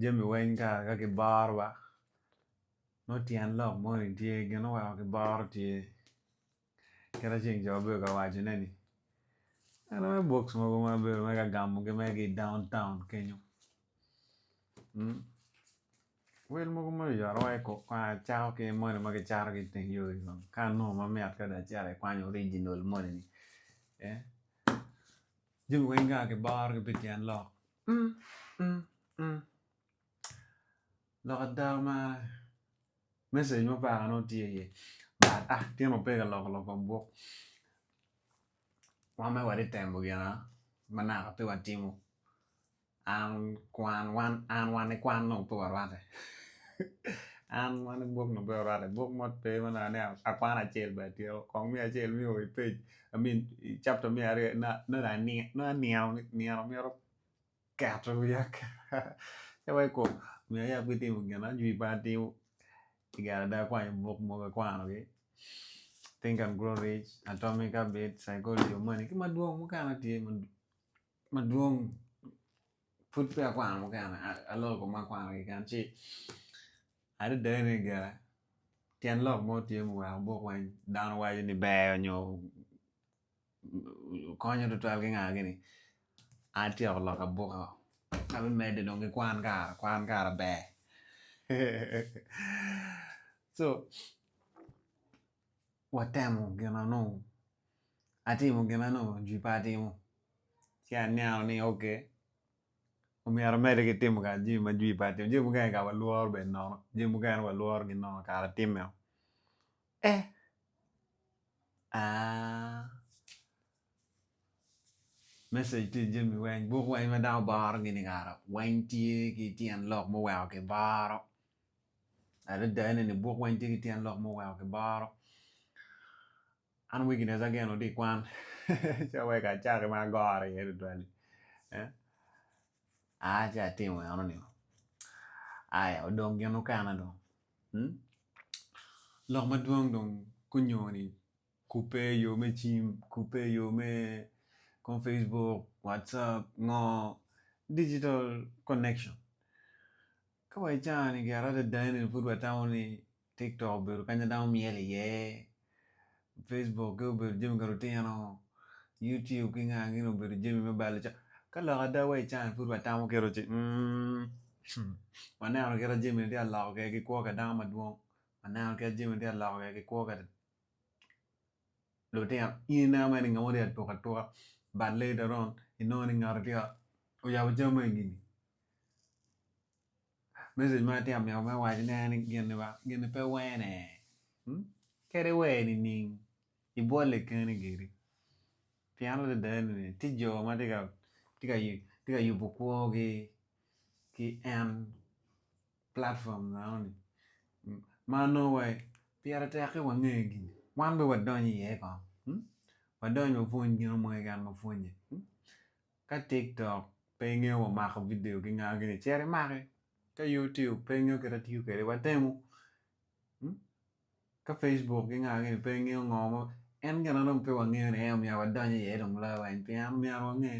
Jami weng kara ka giboro wa nongo tyen lok moni tye gin oweko giboro tye kit acel jo bedo ka waco ne ni en aye box mogo ma bedo mere ka gamo gi mere ki down town kenyo wel mogo ma oyoto wa iko kong acako ki moni ma kicato ki iteng yo ni kong ka anongo mamit ka dong acito acito ki original moni ni. Jami weng ka kiborogi pi tyen lok mm mm mm lok ada omara message mo peke nongo tye iye but ah tyene wa pe ka loko lok kom buk wan mere watye temo gina ma naka pe watimo An kwan wan an wan ikwan nongo pe warwate an wan buk nongo pe warwate buk mo pe ma inongo ni akwan acel bene atyeko kong miyo acel miyo wa i pec I mean i chapter me aryo na nongo dong ani nongo anino nino mito keto wiya aketa ci wa iko omyero ayab ki timo gin ajwi pe atimo pi kare ada akwanyo buk mogo akwanogi think and grow rich, atomic habits, psychology of money ki madwong mukene tye madwong pud peya akwano mukene aloko kong ma akwano keken ci adada ni ga tyen lok mo tye ma oweko buk weng dano waco ni ber nyo konyo tutwal ki nga gini atyeko lok abuka ka me mede dong ki kwan kara kwan kara ber so watemo gin ma nongo atimo gin ma nongo jwi pe atimo ci aneno ni ok omyero amedde ki timo kara jami ma jwi pe atimo jami mukene kara walworo bed nono jami mukene walworo gin nono kara atime o eh aa message tye i jami weng buk weng ma dano boro gini kara weng tye ki tyen lok muweko kiboro Adada ni buk weng tye ki tyen lok ma oweko ki boro. An weakness ageno tye i kwan. Ce weka acaki ma agore iye tutwali. Eh? Ah, ce atimo eno ni. Aya, odong gin okene dong. Hmm? Lok madwong dong kunyoni kubbe i yo me cim, kubbe i yo me kom Facebook, WhatsApp, ngo, digital connection. Ka wa icano ni gire adada eni pud wa tamo ni TikTok obedo kanya dano myel iye, Facebook ki obedo jami ka lutino, YouTube ki nga gin obedo jami me balo caa. Ka lok ada wa icano ni pud wa tamo kito ci umm wa neno kit ma jami ni tye ka loko kede ki kwo ka dano madwong, wa neno kit ma jami ni tye ka loko kede ki kwo ka lutino. In ineno mere ni ngat mo tye ka tuk atuka but later on inongo ni ngato tye ka oyabo camme i gini. Mesej ma atye ka mito me wacine en ni gin-ni ba gin-ni pe wene kadi wer nining ibwole keni giri pien adada ni tye jo ma tye ka tye ka tye ka yubo kwogi ki en platpom enoni ma nongo wa pire tek ki wange gini wan bene wadony iye kong wadony wapwony gino mo keken ma pwonye Ka TikTok pe ngeyo wa mako video ki nga gini cit imaki, ka YouTube pe ngeyo kit atiyo kwede wa temu, ka Facebook ki nga gini pe ngeyo ngo ma en gina dong pe wa ngeyo ni en omyero wa donyo iye dong loyo wa en pien omyero wa nge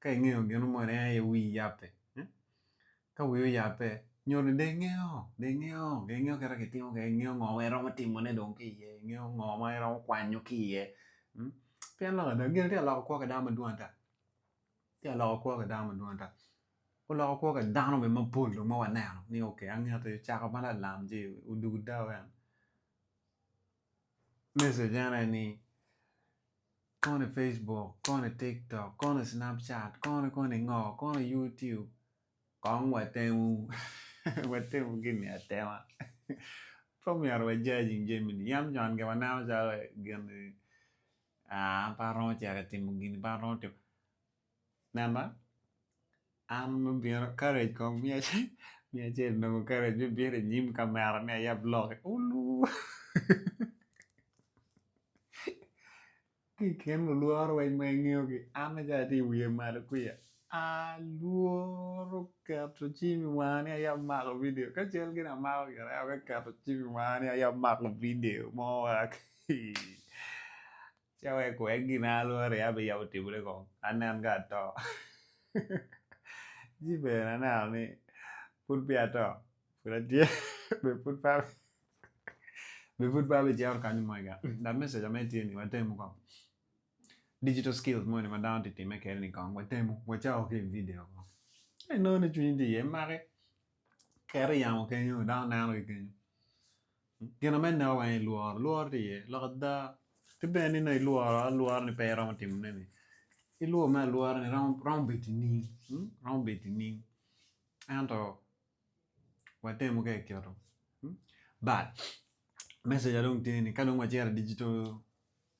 ka ingeyo ginu mo ni en aye wii yape. Ka wi oyabbe, nyo ni dong ingeyo, dong ingeyo, dong ingeyo kit ma kitimo kwede, ingeyo ngo ma iromo timone dong ki iye, ingeyo ngo ma iromo kwanyo ki iye. Pien lok ada, gin tye ka loko kwo ki dano madwong ata, tye ka loko kwo ki dano madwong ata. Oloko kwo ki dano bene mapol dong ma waneno ni okay, angete, ocako ma lalam-ci, odugo dau en. Mesej ene ni, Kono i Facebook, kono i TikTok, kono i Snapchat, kono kono i ngo, kono i YouTube. Kong watemu, watemu gin-ni atema. Pe omyero wa judging jami-ni. Yam con ke waneno calo gin-ni, ah, an pe aromo cito timo gin-ni, pe aromo timo. Nena, an me bino karec kong miya miya acel nongo karec me bino i nyim kamera ni ayab lok ulu ki i kin lulworo weng ma ingeyo gi an aye atye i wiye malo kwiya alworo keto cim i wanga ni ayab mako vidio ka cal gin amako gire aye keto cim i wanga ni ayab mako vidio mo wek Ca wek kuwek gin a alwora aye abiyabo otimre kong, anen ka ato. Ci bene aneno ni pud peya ato, pud atye, be pud pe be pud pe abicito kany mwega. Dok me seca meno tye ni watemu kong digital skills moni ma dano tye ka timme kwede-ni kong watemu, wacako ki i vidio kong. Ci inongo ni cwinyi tye iye maki, Ket i yamo kenyo dano neno ki kenyo gina me neko weng ilworo lworo tye iye lok ada ki bene ni nongo ilworo alwora ni pe iromo timo ne ni ilwor me alwora ni romo romo bedo ining romo bedo ining ento watemo ka ikito but meseja dong tye ni ka dong wacito i digital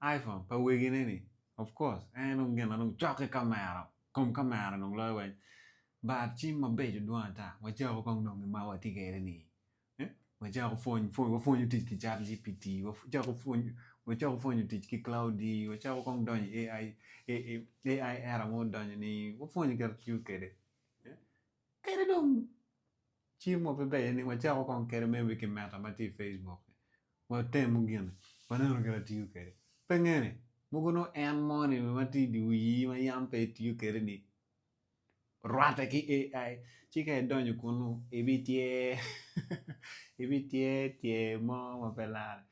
iPhone pa wegine ni of course en aye dong gin ma dong cok ki kamera kom kamera dong loyo weng but cim mabeco dwong ata wacako kong dong gin ma watye kwede ni wacako pwony pwony wapwonyo tic ki chat GPT wacako pwony wacako pwonyo tic ki Claude wacako kong donyo i AI AI era ma odonyo ni wapwonyo kit tiyo kwede. Kadi dong cim wa pe ber ni wacako kong kede maybe ki meta ma tye i Facebook ni. Watemu gin waneno kit atiyo kede. Pe nge ni mogo nongo en mo ni ma tye i di wiyi ma yam pe itiyo kede ni rwate ki AI ci ka idonyo kunu ibi tyer ibi tyer tyer mo ma pe lare.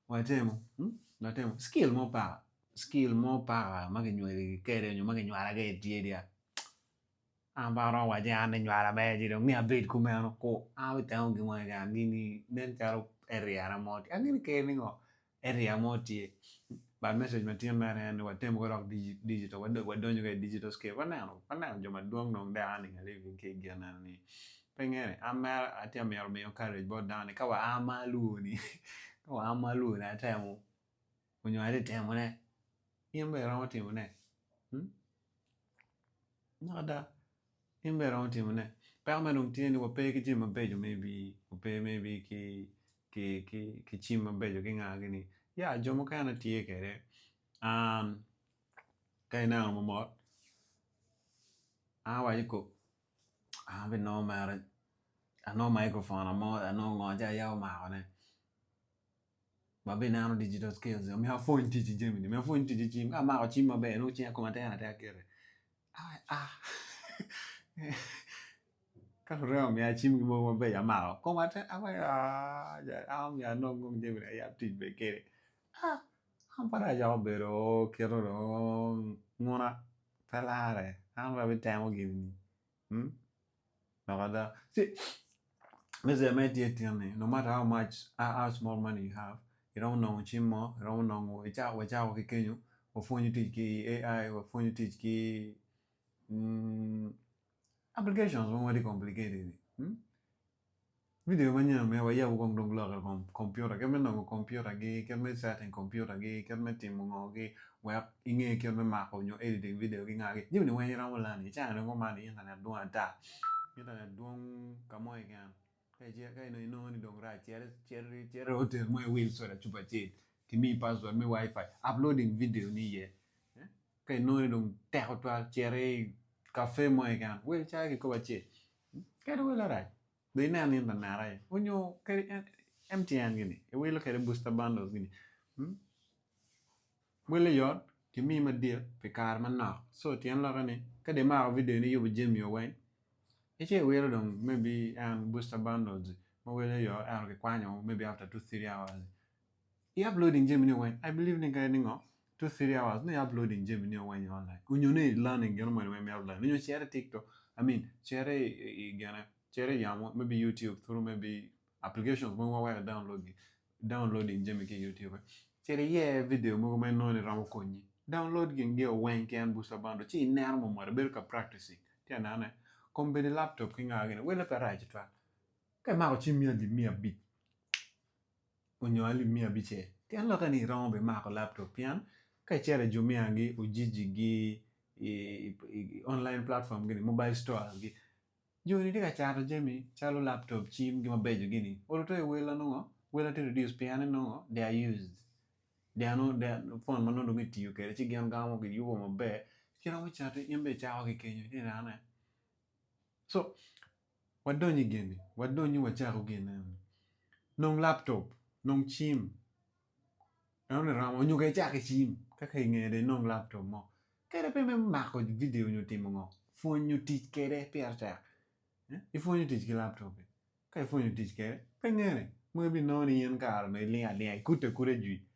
Watemu hmm? watemu skill mo paka skill mo paka ma kinyweli kede nyo ma kinywala kede tye dia. An pe aromo waci an ni nywala ber ci dong ni abed kumeno ku a i teng ogi moni dong angini nen calo area na mo tye angini keri ni ngo area mo tye but message ma tye mere en ni watem wodok digital wadonyo ka i digital scale waneno waneno jo madwong dong dek a niga living ki i gin eno ni pe ngene an mere atye ka mito miyo courage bot dano ni ka wa a ma alwoni ka wa a ma alwoni atemo Onyo atye temo ne in bene iromo timo ne dok ada in bene iromo timo ne peko ma dong tye ni wape ki jami mabeco maybe wape maybe ki cim mabeco ki nga gini ya jo mukene tye kwede ka ineno mo mot a waco ko an be nongo mere anongo microphone amo anongo ngo ci aya omako ne. ma bene ineno digital skills ni omyero apwony tic i jami ni omyero apwony tic i cim ka amako cim maber nongo cinga koma tek atek kiti ka lurema omiya cim mo mabeco amako koma tek an omyero anong kong jami ni ayab tic bene kede an pe atye ka bedo kito dong nguna pe lare an pe abitemo gini ni. Dok ada, me jeya ma itye itin-ni no matter how much or how small money you have iromo nongo cim mo, iromo nongo icako wacako ki kenyo wapwonyo tic ki AI, wapwonyo tic ki applications mogo ma tye complicated-di. Video ma nya me wayab kong dong lok i kom kompiuta kit me nongo kompiutagi, kit me setting kompiutagi, kit me timo ngogi wek inge kit me mako nyo editing video ki ngagi. Jami ni weng iromo lani i caa ni dong kuman aye internet dwong ata. Internet dwong ka mo keken ka ice ka inongo inongo ni dong rac cit cit cit i hotel mo iwil soda cupa acel kimiyi password me WiFi uploading video ni iye ka inongo ni dong tek tutwal cit i cafe mo keken wil caa kikopo acel. Kadi welo arac dong ine anin pa nera aye onyo kadi MTN gini iwilo kede booster bundles gini mm wele yot kimiyi madit pi kare manok so tyen lokke ni kadi imako video ni iyubo jami o weng ice iwilo dong maybe en booster bundles ma wele yot ento kikwanyo maybe after two three hours I uploading jami ni weng, I believe ni kadi ningo, two three hours nongo i uploading jami ni weng online. Onyo ni i learning gino moni weng me uploading. Onyo cere i TikTok, I mean, cere i gine, cere i yamo, maybe YouTube through maybe applications mogo ma weko i download gi, downloading jami ki i YouTube. Cere iye video mogo ma inongo ni romo konyi. Download gin geo weng ki en booster bundle, ci ineno mo mot, ibedo ka practicing. Tye ka nene? Kombeddi laptop ki nga gini, wele pe rac tutwal. Ka imako cim mia alip mia abic. onyo alip miya abicel pien lokke ni iromo bi mako laptop pien ka icito i Jumia gi Ujiji gi online platform gini mobile store gi joni tye ka cato jami calo laptop cim gi mabeco gini oruto i welo nongo welo tye reduce pien ni nongo they are used they are not they are phone manongo dong kitiyo kwede ci gin gamo giyubo maber ci iromo cati in bene icako ki kenyo ni raa ne so Wadonyo i geni, wadonyo wacako gine. Nong laptop, nong cim. Eno ni romo onyo ka icako ki cim, ka ki inge dong inong laptop mo. Kadi pe me mako video onyo timo ngo, pwonyo tic kede pire tek. Ipwonyo tic ki laptop-pi, ka ipwonyo tic kede pe ngene. Mono ibinongo ni in kare onongo ilingo alinga, ikuto akuta i jwi.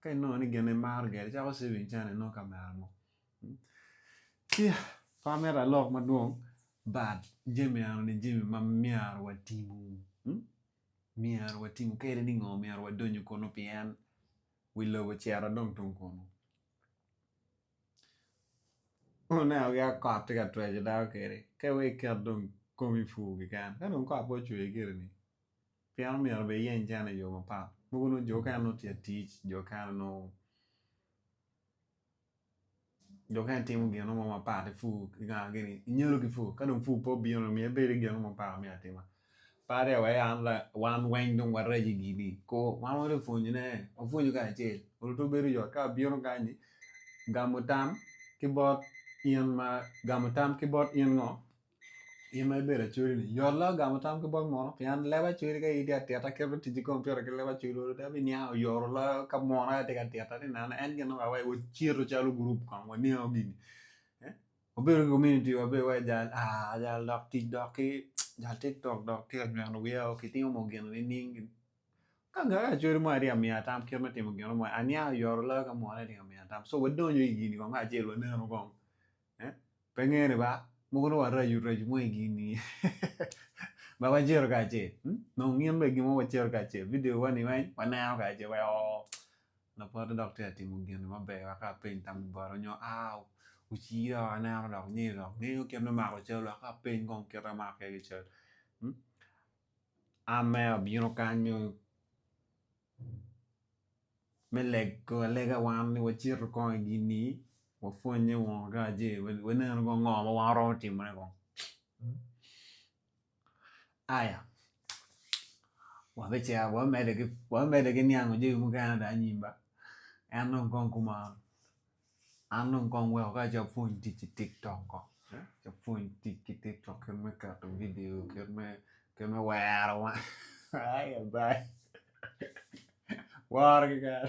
Ka inongo ni gin imaro gire icako saving cene inongo kamera mo. Ci pe amito alok madwong but jami enoni jami ma myero watimo. Myero watimo kadi ni ngo myero wadonyo kunu pien wi lobo ocito dong tung kunu. Wuneno ki ka kot tye ka tweco dano kedi ka iwegi iket dong komi pur keken ka dong kot pe ocwe gire ni Pien omyero obed iyeny cene i yo mapat. Mogo nongo jo okene nongo tye ka tic, jo okene nongo jo okene timo gin mo mapat ki pur ki kara gini nyalo ki pur ka dong pur pe obino dong myero ibed ki gin mo mapat ma myero atima. Pat iye wai an la wan weng dong warac i gini koo wan wari pwonyone wapwonyo kacel onongo twero bedo yot ka abino kany-ni gamo tam ki bot in ma gamo tam ki bot in ngo In ma ibedo acholi ni yot la gamo tam ki bot mono pien leb acholi ka in tye ka tito kit me tic ki kompiuta ki leb acholi olo dong abiniang oyoro loyo ka mono aye atye ka tito ni nena en gin ma weko cito calo gurup kong waniango gini eh? wabedo ki community wa bene wa jal ah jal dok tic dok ki jal tiktok dok tye ka nyweno wiya o kitimo mo gin nining gin ka nga ka acholi mo atye ka miya tam kit me timo gino mo aniang oyoro loyo ka mono atye ka miya tam so wadonyo i gini kong kacel waneno kong Pe ngene ba, mogo nongo waraco rac mo i gin ni ma wacito kacel. Hmm? Nongo ngin bene gin mo wacito kacel. Video wa ni weng waneno kacel wai oo. Lapote dok tye ka timo gin ni maber wa ka peny tam i bot onyo aa uci dok aneno dok ni dok ngeyo kit me mako cal wa ka peny kong kit ma amako iye ki cal. Hmm? An mere abino kany me me lego alega wan ni wacito kong i gin ni wapwonye wun ka ce wanenu kong ngo ma wan waromo timo ne kong aya wabicito wamede ki niango jami mukene ata anyim ba en dong kong kumalo An dong kong weko ka ci apwony tic ki tik tok kong ci apwony tic ki tik tok kit me keto vidio kit me kit me wero ai abai woro keken